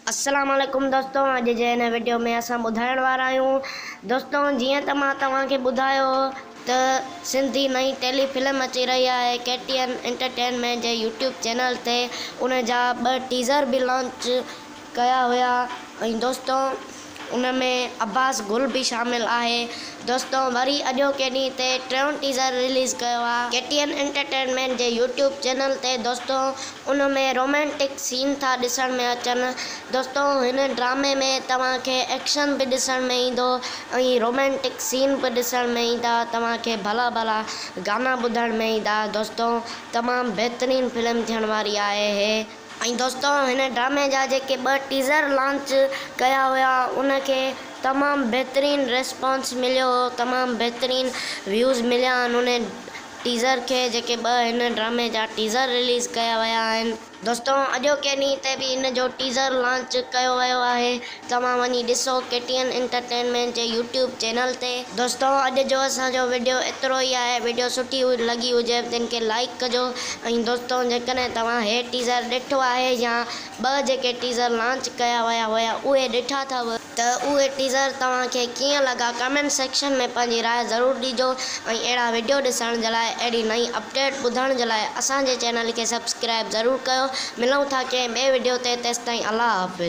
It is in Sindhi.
السلام عليڪم دوستو اڄ جي هن وڊيو ۾ اسان ٻڌائڻ وارا آهيون دوستو جيئن ته مان توهان کي ٻڌايو هو ته سنڌي نئين ٽيلي فلم اچي رهي آهي ڪي ٽي اين انٽرٽينمينٽ جي يوٽيوب چينل تي ان جا ٻه ٽيزر به لانچ ڪيا هيا ۽ دوستو ان ۾ عباس گل به شامل آهي. دوستو وري اڄوڪي ڏينهن تي ٽيون ٽيزر رليز ڪيو آ ڪي ٽي اين انٽرٽينمينٽ جي يوٽيوب چينل تي دوستو ان ۾ رومانٽڪ سين ٿا ڏسڻ ۾ اچن دوستو هن ڊرامي ۾ توهان کي ايڪشن به ڏسڻ ۾ ايندو ۽ رومانٽڪ سين به ڏسڻ ۾ ايندا توهان کي ڀلا ڀلا گانا ٻڌڻ ۾ ايندا دوستو تمام بهترين فلم ٿيڻ واري آهي هي ۽ دوستو هن ڊرامي جا جيڪي ٻه ٽيزر لانچ ڪيا هيا ان کي تمام بهترين ريسپانس مليو هو تمام بهترين ويوز مليا آهن ان ٽيزر کي جيڪي ٻه هن ڊرامي جا ٽيزر رليز ڪيا ويا آهن. دوستو اڄوڪي ڏينهن تي به ان جو ٽيزر لانچ ڪيو ويو آهي توهان وڃي ڏسو ڪي ٽي اين انٽرٽينمينٽ جي يوٽيوب چينل تي. دوستو اڄ جو اسان جو وڊيو ايترو ئي آهي وڊيو سٺي لڳي هجي تن کي لائيڪ ڪجو ۽ دوستو جيڪڏهن توهان هي ٽيزر ڏٺو آهي يا ٻه جيڪي ٽيزر لانچ ڪيا ويا هيا اهي ڏٺا اٿو ته اهي ٽيزر توهان کي ڪيئن لڳا ڪمينٽ سيڪشن ۾ پنهنجي راء ضرور ڏيجو ۽ اهڙا وڊيو ڏسڻ جي لاء اهڙي نئين اپڊيٽ ٻڌڻ جي لاء اسان جي چينل کي سبسڪرائيب ضرور ڪيو ملون ٿا ڪنهن ٻئي وڊيو تي تيستائين الله حافظ.